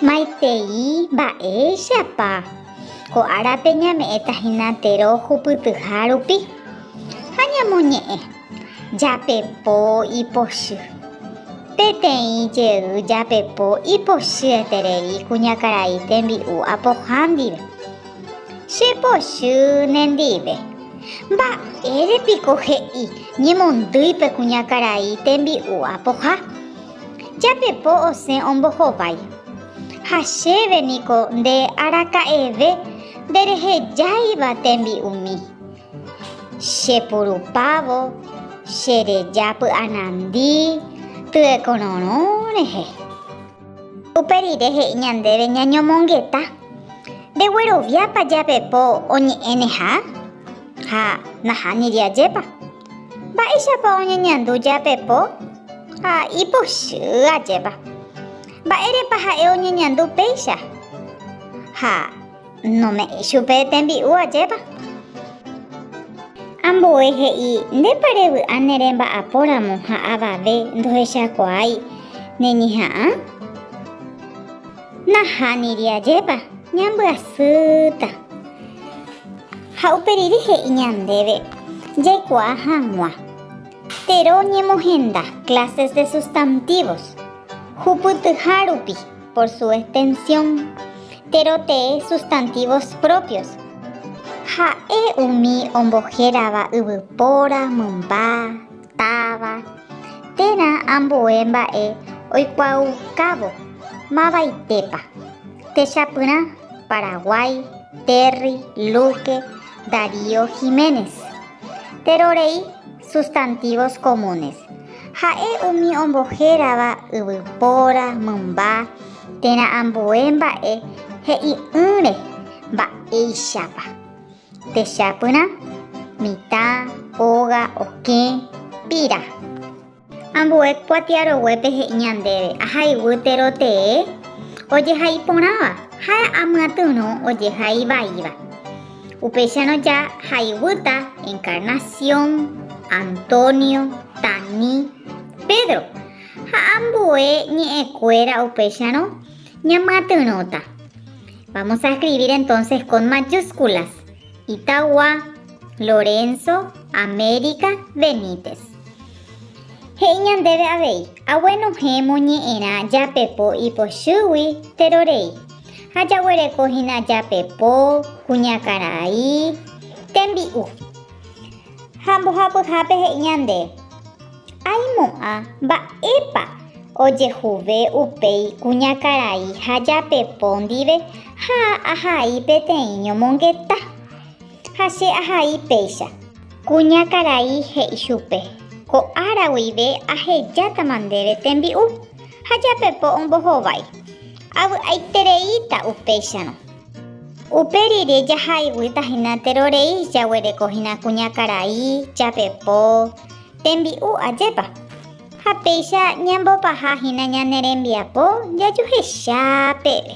Maitei mba'éichapa ko árape ñame'ẽta hína tero hupytyha rupi ha ñamoñe'ẽ japepo ipochy. Peteĩ jey japepo ipochy eterei kuñakarai tembi'u apoha ndive. Chepochy nendive. Mba'ére piko he'i ñemondýi pe kuñakarai tembi'u apoha? Japepo osẽ ombohovái. Ha chéve niko nde araka'eve nderehejáiva tembi'umi. Chepurupávo chereja py'anandi tyekororõ rehe. Upe rire he'i ñandéve ñañomongeta, Ndegueroviápa japepo oñe'ẽneha ha nahániri ajépa. Mba'éichapa oñeñandu jape po ha ipochy ajépa? Mba'érepa ha'e oñeñandu péicha ha nome'ẽ chupe tembi'u ajépa? Ambue he'i, Ndépa revy'a ne remba'apo ramo ha avave ndohechakuaái ne ñeha'ã? Nahániri ajépa, ñambyasýta. Ha upe rire he'i ñandéve jaikuaa hag̃ua. Tero ñemohenda Clases de Sustantivos, hupytyha rupi, por su extensión, tero tee sustantivos propios. Ha'e umi ombohérava yvypóra, mymba. Táva, térã ambue mba'e oikuaaukávo mavaitépa, techapyrã Paraguái, Terry, Luque, Darío, Jiménez. Tero rei sustantivos comunes, ha'e umi ombohérava yvypóra, mymba, térã ambue mba'e he'i'ỹre mba'éichapa. Techapyrã, mitã, óga, okẽ, pira. Ambue kuatiaroguépe he'i ñandéve ahayguýtero tee ojehai porãva ha amyatyrõ ojehai vaíva. Upéicharõ ja hayguýta Encarnación, Antonio, Tani, Pedro ha ambue ñe'ẽkuéra upéicharõ Ñamyatyrõta. Vamos a escribir entonces con mayúsculas. Itagua, Lorenzo, América, Benítez. He'i ñandéve avei, aguenohẽmo ñe'ẽrã japepo ipochýgui terorei, ha jaguereko hína japepo, kuñakarai, tembi'u. Ha mbohapyhápe he'i ñande. Aimo'ã mba'épa ojehuve upéi kuñakarai ha japepo ndive ha ahai peteĩ ñomongeta. Ha che ahai péicha. Kuñakarai he'i chupe, Ko ára guive ahejátama ndéve tembi'u ha japepo ombohovái. Avy'aitereíta upéicharõ. Upe rire jahaiguýta hína terorei jaguerekohína kuñakarai, japepo, Tembi'u ajépa! Ha péicha ñambopaha hína ñane rembiapo jajuhecha peve.